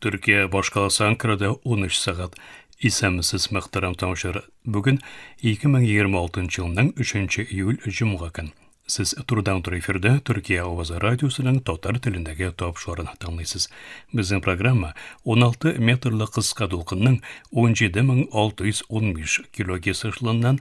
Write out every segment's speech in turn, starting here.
Төркия башкаласы Анкарада 13 сәгать. Исәнмесез, мөхтәрәм тыңучылар. Бүген 2026 елның 3 июль җомга көн. Сез турыдан туры эфирдә Төркия авазы радиосының татар телендәге тапшырын тыңлыйсыз. Безнең программа 16 метрлы кыска дулкынның 17615 килогерц ышылыннан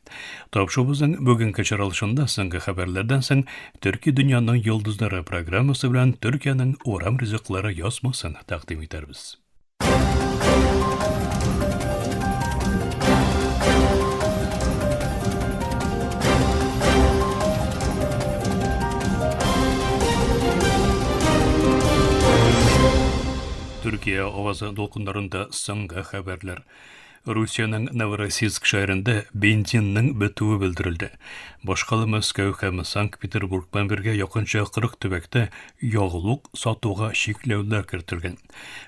Тапшыбызның бүгенге чаралышында соңгы хәбәрләрдән соң Төрки дөньяның йолдызлары программасы белән Төркиянең урам ризыклары язмасын тәкъдим итәрбез. Төркия авазы дулкыннарында соңгы хәбәрләр. Русиянең Новороссийск шәһәрендә бензинның бетүе белдерелде. Башка да Мәскәү һәм Санкт-Петербург белән бергә якынча 40 төбәктә ягулык сатуга чикләүләр кертелгән.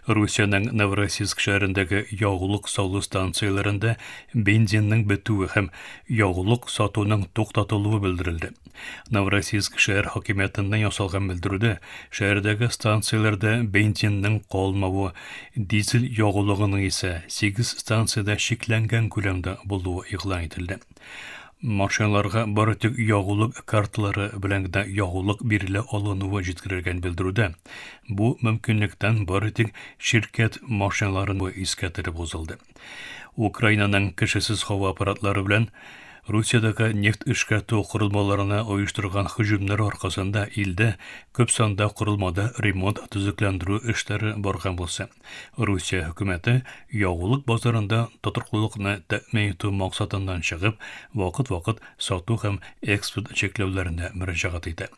Русиянең Новороссийск шәһәрендәге ягулык салу станцияләрендә бензинның бетүе һәм ягулык сатуның туктатылуы белдерелде. Новороссийск шәһәр хакимиятеннән ясалган белдерүдә шәһәрдәге станцияләрдә бензинның калмавы, дизель ягулыгының исә 8 станциядә чикләнгән күләмдә булуы игълан ителде. Машиналарга бары тик ягулык карталары белән генә ягулык бирелә алынуы җиткерелгән белдерүдә. Бу мөмкинлектән бары тик ширкәт машиналарын искә төреп узылды. Украинаның кешесез һава аппаратлары белән Русиядәге нефть эшкәртү корылмаларына оештырган һөҗүмнәр аркасында илдә күп санда корылмада ремонт төзекләндерү эшләре барган булса, Русия хөкүмәте ягулык базарында тотрыклылыкны тәэмин итү максатыннан чыгып, вакыт-вакыт сату һәм экспорт чикләүләренә мөрәҗәгать итә.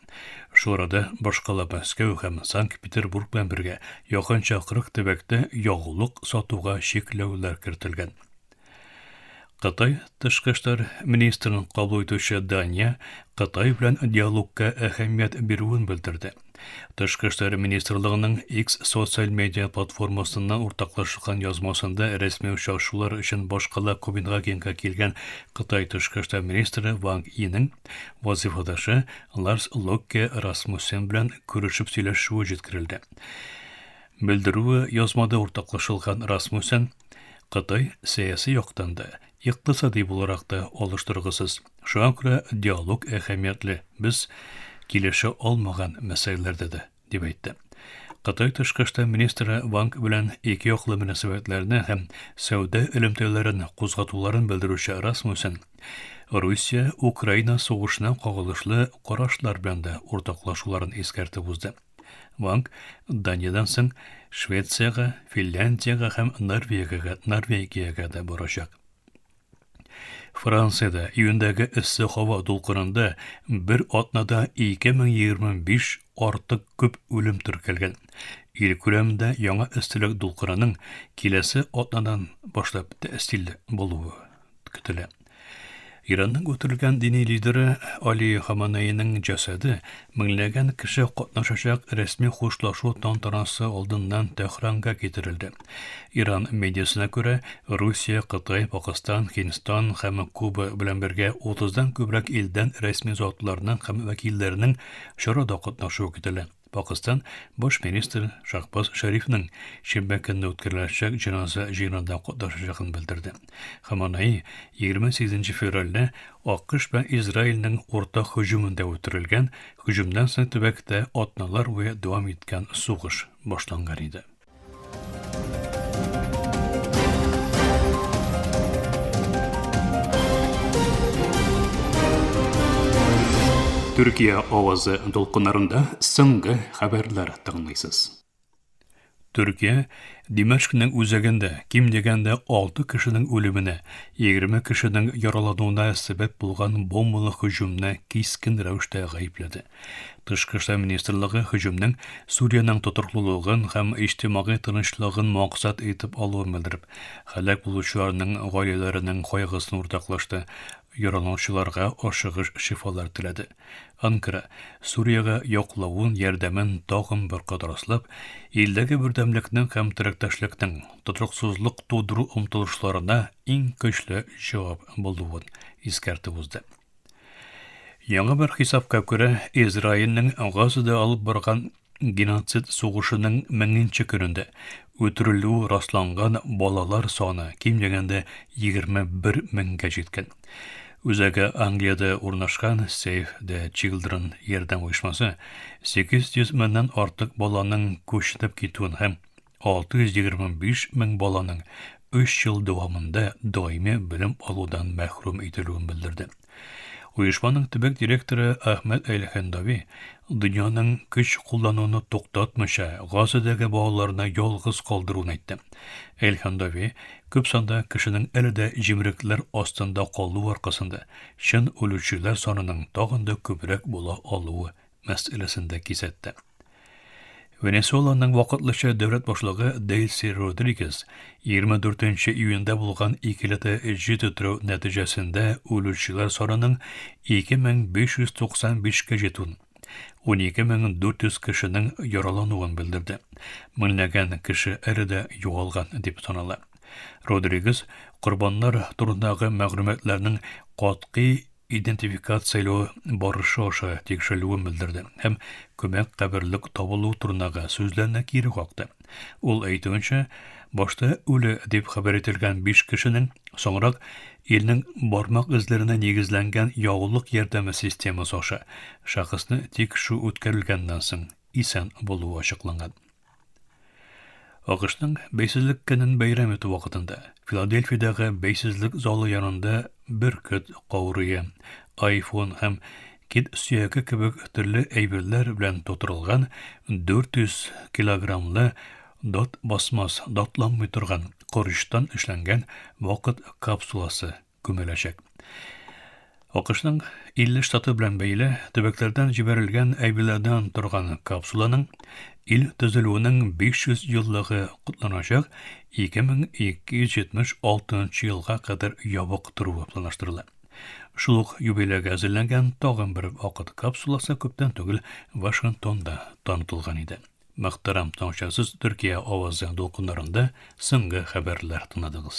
Шул арада башкала Мәскәү һәм Санкт-Петербург белән бергә якынча 40 төбәктә ягулык сатуга чикләүләр кертелгән. Кытай тышкы эшләр министрын кабул итүче Дания Кытай белән диалогка әһәмият бирүен белдерде. Тышкы эшләр министрлыгының X социаль медиа платформасында уртаклашылган язмасында рәсми очрашулар өчен башкала Копенгагенга килгән Кытай тышкы эшләр министры Ванг Инең вазыйфадашы Ларс Локке Расмуссен белән күрешеп сөйләшүе җиткерелде. Белдерүе язмада уртаклашылган Расмуссен Кытай сәяси яктан да, икътисади буларак та алыш торгысыз. Шуңа күрә диалог әһәмиятле, без килешә алмаган мәсьәләләрдә дә, дип әйтте. Кытай тышкы эшләр министры Ванг белән ике яклы мөнәсәбәтләрне һәм сәүдә элемтәләрен кузгатуларын белдерүче Расмусен Русия Украина сугышына кагылышлы карашлар белән дә уртаклашуларын искәртеп узды. Ванг Даниядән соң Швециягә, Финляндиягә һәм Норвегиягә, Норвегиягә дә барачак. Франциядә июндәге эссе һава дулкынында бер атнада 2025 артык күп үлем теркәлгән. Ил күләмендә яңа эсселек дулкынының киләсе атнадан башлап тәэсиле булуы көтелә. Иранның үтерелгән дини лидеры Али Хаманейның җәсәде меңләгән кеше катнашачак рәсми хушлашу тантанасы алдыннан Тәһранга китерелде. Иран медиасына күрә, Русия, Кытай, Пакыстан, Һиндстан һәм Куба белән бергә 30-дан күбрәк илдән рәсми затларның һәм вәкилләренең чарада катнашуы көтелә. Пакыстан баш министры Шахбаз Шәрифның шимбә көнне үткәреләчәк җеназа җыенында катнашачагын белдерде. Хаманаи 28 февральдә АКШ белән Израильнең уртак һөҗүмендә үтерелгән, һөҗүмнән соң төбәктә атналар буе дәвам иткән сугыш башланган иде. Төркия авазы дулкыннарында соңгы хәбәрләр тыңлыйсыз. Төркия Димәшкнең үзәгендә ким дигәндә 6 кешенең үлеменә, 20 кешенең яралануына сәбәп булган бомбалы һөҗүмне кискен рәвештә гаепләде. Тышкы эшләр министрлыгы һөҗүмнең Сүриянең тотрыклылыгын һәм иҗтимагый тынычлыгын максат итеп алуын белдереп, һәлак булучыларның гаиләләренең кайгысын уртаклашты, яраланучыларга ашыгыч шифалар теләде. Анкара, Сүриягә яклавын, ярдәмен тагын бер кат раслап, илдәге бердәмлекнең һәм теләктәшлекнең, тотрыксызлык тудыру омтылышларына иң көчле җавап булуын искәртеп узды. Яңа бер хисапка күрә, Израильнең Газада алып барган геноцид сугышының меңенче көнендә үтерелү расланган балалар саны ким дигәндә 21 меңгә җиткән. Үзәге Англиядә урнашкан Save the Children ярдәм оешмасы 800 меңнән артык баланың күченеп китүен һәм 625 мең баланың 3 ел дәвамында даими белем алудан мәхрүм ителүен белдерде. Оешманың төбәк директоры Ахмед Әлхәндави дөньяның көч куллануны туктатмыйча Газадәге балаларны ялгыз калдыруын әйтте. Әлхәндави күп санда кешенең әле дә җимрекләр астында калу аркасында чын үлүчеләр санының тагын да күбрәк була алуы мәсьәләсен дә кисәтте. Венесуэланың вакытлыча дәүләт башлыгы Дельси Родригес 24 июньдә булган икеләтә җир тетрәү нәтиҗәсендә үлүчеләр санының 2595-кә җитүен, 12400 кешенең яралануын белдерде. Меңләгән кеше әле дә югалган дип санала. Родригес корбаннар турындагы мәгълүматларның катгый идентификацияләү барышы аша тикшерелүен белдерде һәм күмәк каберлек табылу турындагы сүзләрне кире какты. Ул әйтүенчә, башта үле дип хәбәр ителгән 5 кешенең соңрак илнең бармак эзләренә нигезләнгән яулык ярдәме системасы аша шәхесне тикшерү үткәрелгәннән соң исән булуы ачыкланган. АКШның бәйсезлек көнен бәйрәм итү вакытында Филадельфиядәге бәйсезлек залы янында бөркет каурые, айфон һәм кит сөяге кебек төрле әйберләр белән тутырылган 400 килограммлы дат басмас, датланмый торган корычтан эшләнгән вакыт капсуласы. күмеләчәк. АКШның 50 штаты белән бәйле төбәкләрдән җибәрелгән әйберләрдән торган капсуланың ил төзелүенең 500 еллыгы котланачак 2276 елга кадәр ябык торуы планлаштырыла. Шул ук юбилейга әзерләнгән тагын бер вакыт капсуласы күптән түгел Вашингтонда танытылган иде. Мөхтәрәм таңчасыз Төркия авазы дулкыннарында соңгы хәбәрләр тыңладыгыз.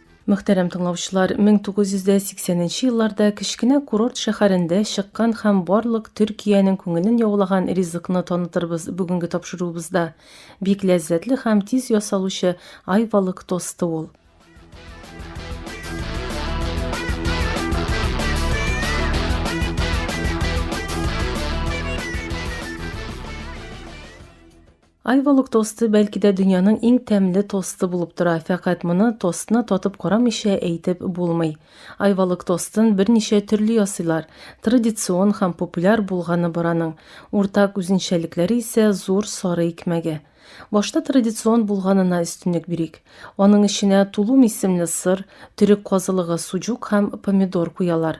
Мөхтәрәм тыңлаучылар, 1980 нче елларда кечкенә курорт шәһәрендә чыккан һәм барлык Төркиянең күңелен яулаган ризыкны танытырбыз бүгенге тапшыруыбызда. Бик ләззәтле һәм тиз ясалучы айвалык тосты ул. Айвалык тосты бәлки дә дөньяның иң тәмле тосты булып тора, фәкать моны тостны татып карамыйча әйтеп булмый. Айвалык тостын берничә төрле ясыйлар, традицион һәм популяр булганы бар аның. Уртак үзенчәлекләре исә зур сары икмәге. Башта традицион булганына өстенлек бирик. Аның эченә тулум исемле сыр, төрек казылыгы, суҗук һәм помидор куялар.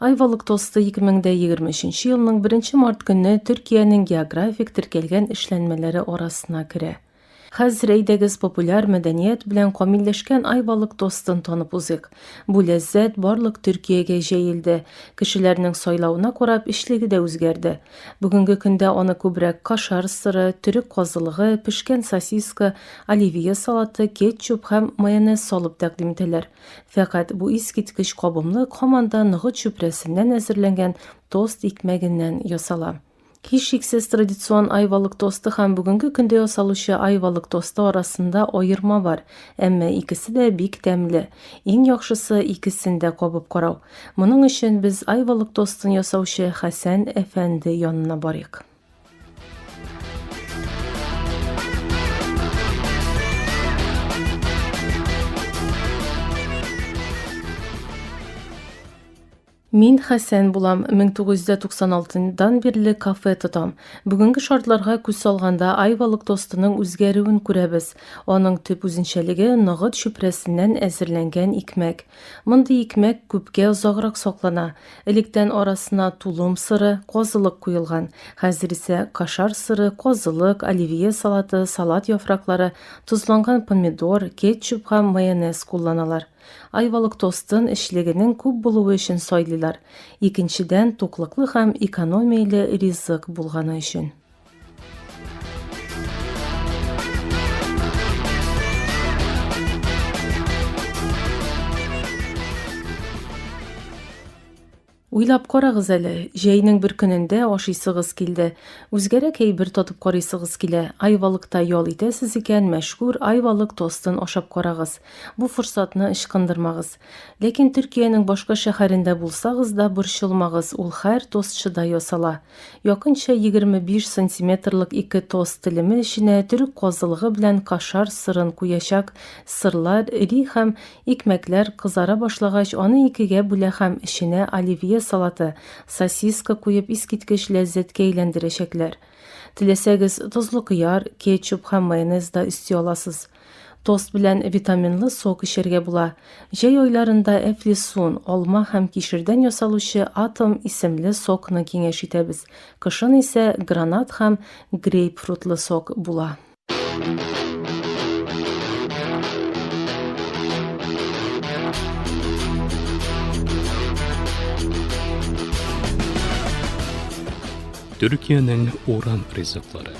Айвалык тосты 2023 елның 1 март көнне Төркиянең географик теркәлгән эшләнмәләре арасына керә. Хәзер әйдәгез популяр мәдәният белән камилләшкән айвалык тостын танып узыйк. Бу ләззәт барлык Төркиягә җәелде. Кешеләрнең сайлавына карап эчлеге дә үзгәрде. Бүгенге көндә аны күбрәк кашар сыры, төрек казылыгы, пешкән сосиска, оливье салаты, кетчуп һәм майонез салып тәкъдим итәләр. Фәкать бу искиткеч кабымлык һаман да ныгыт чүпрәсеннән әзерләнгән тост икмәгеннән ясала. Һичшиксез, традицион айвалык тосты һәм бүгенге көндә ясалучы айвалык тосты арасында аерма бар, әмма икесе дә бик тәмле. Иң яхшысы, икесен дә кабып карау. Моның өчен без айвалык тостын ясаучы Хәсән әфәнде янына барыйк. Мин Хәсән булам, 1996-дан бирле кафе тотам. Бүгенге шартларга күз салганда айвалык тостының үзгәрүен күрәбез. Аның төп үзенчәлеге ныгыт чүпрәсеннән әзерләнгән икмәк. Мондый икмәк күпкә озаграк саклана. Электән арасына тулым сыры, казылык куелган. Хәзер исә кашар сыры, казылык, оливье салаты, салат яфраклары, тозланган помидор, кетчуп һәм майонез кулланалар. Айвалык тостын эчлегенең күп булуы өчен сайлыйлар. Икенчедән, туклыклы һәм экономияле ризык булганы өчен. Уйлап карагыз әле, җәйнең бер көнендә ашыйсыгыз килде. Үзгәрәк әйбер татып карыйсыгыз килә. Айвалыкта ял итәсез икән, мәшһүр айвалык тостын ашап карагыз. Бу форсатны ычкындырмагыз. Ләкин Төркиянең башка шәһәрендә булсагыз да борчылмагыз, ул хәр тостчыда ясала. Якынча егерме биш сантиметрлык ике тост телеме эченә төрек казылыгы белән кашар сырын куячак. Сырлар эри һәм икмәкләр кызара башлагач, аны икегә бүлә һәм эченә оливье салаты, сосиска куеп искиткеч ләззәткә әйләндерәчәкләр. Теләсәгез, тозлы кыяр, кетчуп һәм майонез да өсти аласыз. Тост белән витаминлы сок эчәргә була. Җәй айларында әфлисун, алма һәм кишердән ясалучы Атом исемле сокны киңәш итәбез, кышын исә гранат һәм грейпфрутлы сок була. Төркиянең урам ризыклары.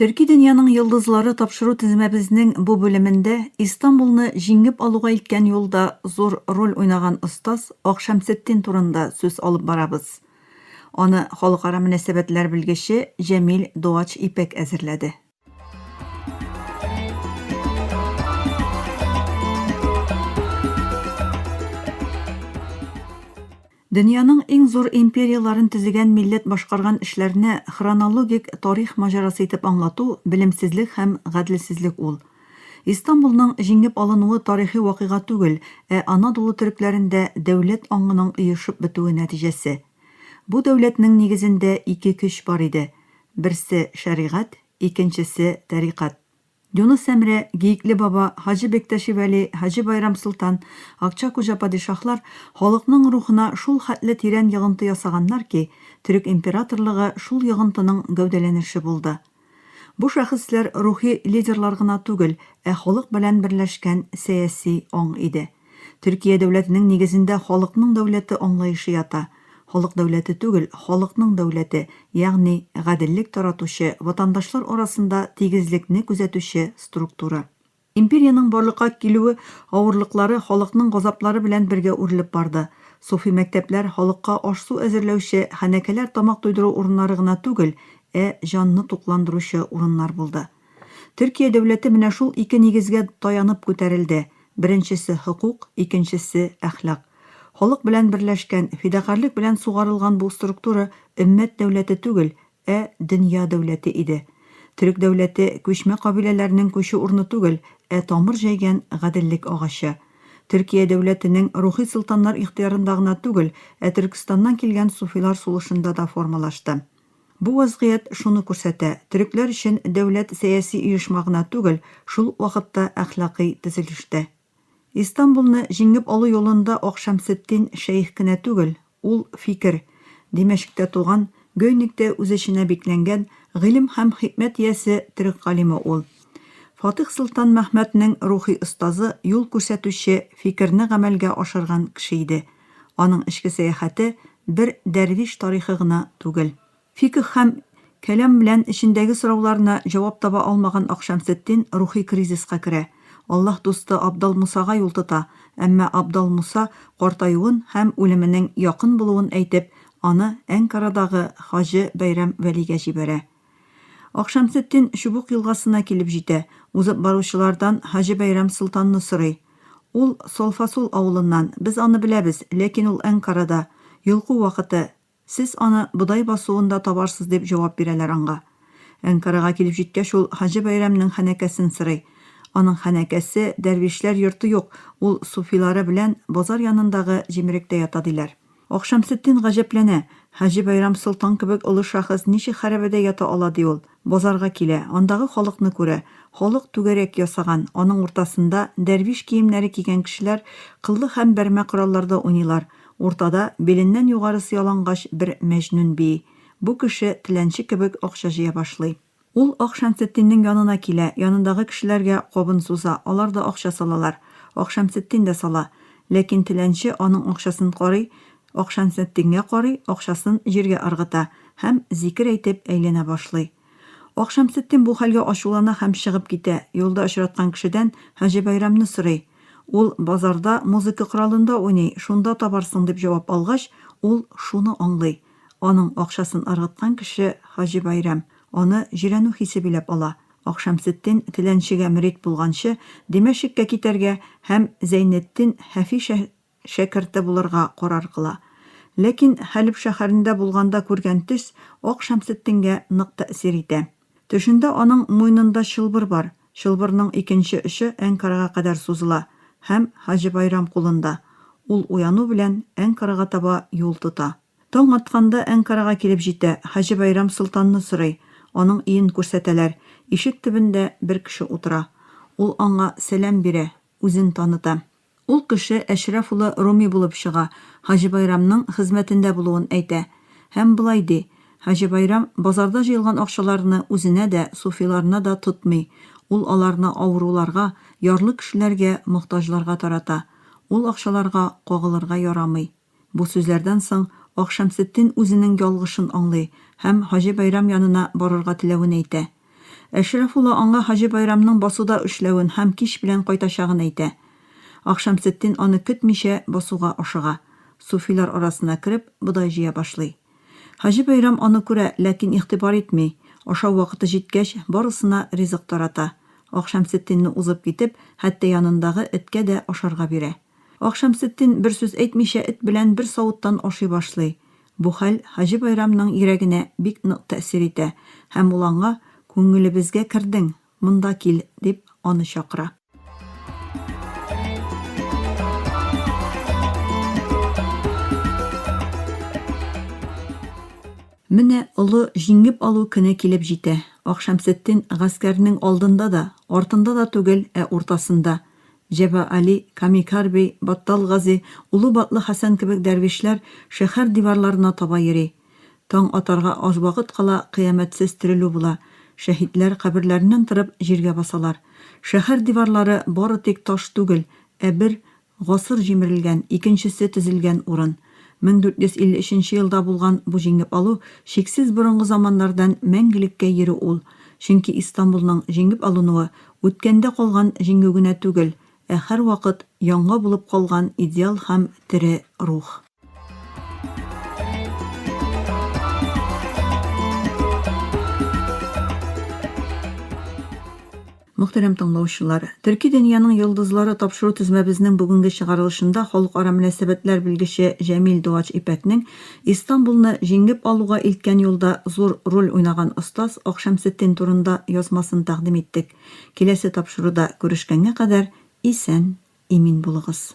Төрки дөньяның йолдызлары тапшыру тезмәбезнең бу бүлемендә Истанбулны җиңеп алуга иткән юлда зур роль уйнаган остаз Акшәмсетдин турында сүз алып барабыз. Аны халыкара мөнәсәбәтләр белгече Җәмил Дуач Ипәк әзерләде. Дөньяның иң зур империяләрен төзегән милләт башкарган эшләрне хронологик тарих маҗарасы итеп аңлату, белемсезлек һәм гаделсезлек ул. Истанбулның җиңеп алынуы тарихи вакыйга түгел, ә Анадолу төрекләрендә дәүләт аңының оешып бетүе нәтиҗәсе. Бу дәүләтнең нигезендә ике көч бар иде, берсе, шәригать, икенчесе, тәрикать. Юныс Әмрә, Гиекле Баба, Хаҗи Бектәши Вәли, Хаҗи Байрам Солтан, Акча Куҗа Падишаһлар халыкның рухына шул хәтле тирән йогынты ясаганнар ки, төрек императорлыгы шул йогынтының гәүдәләнеше булды. Бу шәхесләр рухи лидерлар гына түгел, ә халык белән берләшкән сәяси аң иде. Төркия дәүләтенең нигезендә халыкның дәүләте аңлаешы ята. Халык дәүләте түгел, халыкның дәүләте, ягъни гаделлек таратучы, ватандашлар арасында тигезлекне күзәтүче структура. Империянең барлыкка килүе авырлыклары халыкның газаплары белән бергә үрелеп барды. Суфи мәктәпләр халыкка аш-су әзерләүче, хәнәкәләр тамак туйдыру урыннары гына түгел, ә җанны тукландыручы урыннар булды. Төркия дәүләте менә шул ике нигезгә таянып күтәрелде, беренчесе, хокук, икенчесе, әхлак. Халык белән берләшкән, фидакарьлек белән сугарылган бу структура өммәт дәүләте түгел, ә дөнья дәүләте иде. Төрек дәүләте, күчмә кабиләләрнең күчү урыны түгел, ә тамыр җәйгән гаделлек агачы. Төркия дәүләтенең рухи солтаннар ихтыярында гына түгел, ә Төркстаннан килгән суфилар сулышында да формалашты. Бу вазгыять шуны күрсәтә, төрекләр өчен дәүләт сәяси оешма гына түгел, шул ук вакытта әхлакый төзелеш тә. Истанбулны җиңеп алу юлында Акшәмсетдин шәех кенә түгел, ул, фикер, Димәшектә туган, Гөйниктә үз эченә бикләнгән, гыйлем һәм хикмәт иясе төрек галиме ул. Фатих Солтан Мәхмәтнең рухи остазы, юл күрсәтүче, фикерне гамәлгә ашырган кеше иде. Аның эчке сәяхәте бер дәрвиш тарихы гына түгел. Фикһ һәм кәлам белән эчендәге сорауларына җавап таба алмаган Акшәмсетдин рухи кризиска керә, Аллаһ дусты Абдал Мусага юл тота, әмма Абдал Муса картаюын һәм үлеменең якын булуын әйтеп, аны Әнкарадагы хаҗы Бәйрәм Вәлигә җибәрә. Акшәмсетдин Чубук елгасына килеп җитә, узып баручылардан Хаҗи Бәйрәм солтанны сорый. Ул, Солфасул авылыннан, без аны беләбез, ләкин ул Әнкарада, йолку вакыты, сез аны бодай басуында табарсыз, дип җавап бирәләр аңга. Әнкарага килеп җиткәч, ул Хаҗи Бәйрәмнең хәнәкәсен сорый. Аның хәнәкәсе, дәрвишләр йорты юк, ул суфилары белән базар янындагы җимеректә ята, диләр. Акшамсетдин гаҗәпләнә. Хаҗи Байрам солтан кебек олы шәхес ничек хәрабәдә ята ала ди ул? Базарга килә, андагы халыкны күрә. Халык түгәрәк ясаган, аның уртасында, дәрвиш киемнәре кигән кешеләр кыллы һәм бәрмә коралларда уйныйлар. Уртада, биленнән югарысы ялангач, бер мәҗнүн бии. Бу кеше, теләнче кебек, акча җыя башлый. Ул Ак Шәмсетдиннең янына килә, янындагы кешеләргә кабын суза, алар да акча салалар. Ак Шәмсетдин дә сала. Ләкин теләнче аның акчасын карый, Ак Шәмсетдингә карый, акчасын җиргә ыргыта һәм, зикер әйтеп, әйләнә башлый. Ак Шәмсетдин бу хәлгә ачулана һәм чыгып китә, юлда очраткан кешедән Хаҗи Бәйрәмне сорый. Ул, Базарда, музыка коралында уйный, шунда табарсың, дип җавап алгач, ул шуны аңлый, Аның акчасын ыргыткан кеше, Хаҗи Бәйрәм, аны җирәнү хисе биләп ала. Акшәмсетдин теләнчегә мөрид булганчы, Димәшиккә китәргә һәм Зәйнетдин Һәфи шә шәкерте булырга карар кыла. Ләкин Хәлеб шәһәрендә булганда күргән төс Акшәмсетдингә нык тәэсир итә. Төшендә аның муйнында чылбыр бар, чылбырның икенче очы Әнкарага кадәр сузыла һәм Хаҗи Байрам кулында. Ул уяну белән Әнкарага таба юл тота. Таң атканда Әнкарага килеп җитә, Хаҗи Байрам Солтанны сорый, аның өен күрсәтәләр, ишек төбендә бер кеше утыра. Ул аңа сәлам бирә, үзен таныта. Ул кеше Әшрәф улы Руми булып чыга, Хаҗи Байрамның хезмәтендә булуын әйтә. Һәм болай ди, Хаҗи Байрам базарда җыелган акчаларны үзенә дә, суфиларына да тотмый, ул аларны авыруларга, ярлы кешеләргә, мохтаҗларга тарата. Ул акчаларга кагылырга ярамый. Бу сүзләрдән соң Акшәмсетдин үзенең ялгышын аңлый һәм Хаҗи Байрам янына барырга теләвен әйтә. Әшрәфулла аңа Хаҗи Байрамның басуда эшләвен һәм кич белән кайтачагын әйтә. Акшәмсетдин аны көтмичә басуга ашыга. Суфилар арасына кереп, бодай җыя башлый. Хаҗи Байрам аны күрә, ләкин игътибар итми, ашау вакыты җиткәч, барысына ризык тарата. Акшәмсетдинны узып китеп, хәтта янындагы эткә дә ашарга бирә. Акшамсетдин бер сүз әйтмичә эт белән бер савыттан ашый башлый. Бу хәл Хаҗи Байрамның йөрәгенә бик нык тәэсир итә һәм ул аңа, Күңелебезгә кердең, монда кил, дип, аны чакыра. Менә олы җиңеп алу көне килеп җитә. Акшамсетдин гаскәрнең алдында да, артында да түгел, ә уртасында. Җәба Али, Камикар бей, Баттал Гази, Улы Батлы Хәсән кебек дәрвишләр шәһәр диварларына таба йөри. Таң атарга аз вакыт кала кыямәтсез терелү була, шәһитләр каберләреннән торып җиргә басалар. Шәһәр диварлары бары тик таш түгел, ә бер гасыр җимерелгән, икенчесе төзелгән урын. 1453 елда булган бу җиңеп алу чиксез борынгы заманнардан мәңгелеккә йөри ул, чөнки Истанбулның җиңеп алынуы Үткәндә калган җиңү генә түгел, ә һәрвакыт яңа булып калган идеал һәм тере рух. Мөхтәрәм тыңлаучылар! Төрки дөньяның йолдызлары тапшыру тезмәбезнең бүгенге чыгарылышында халыкара мөнәсәбәтләр белгече Җәмил Дуач Ипәкнең Истанбулны җиңеп алуга илткән юлда зур роль уйнаган остаз Акшәмсетдин турында язмасын тәкъдим иттек. Киләсе тапшыруда күрешкәнгә кадәр исән, имин булыгыз.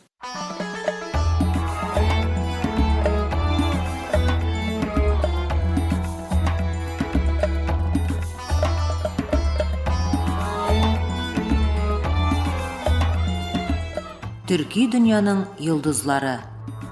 Төрки дөньяның йолдызлары.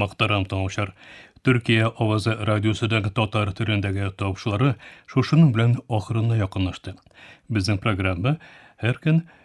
Мактарам тыңлаучылар. Төркия авазы радиосының татар төрендәге тавышлары шушының белән ахырына якынлашты. Безнең программа һәр көн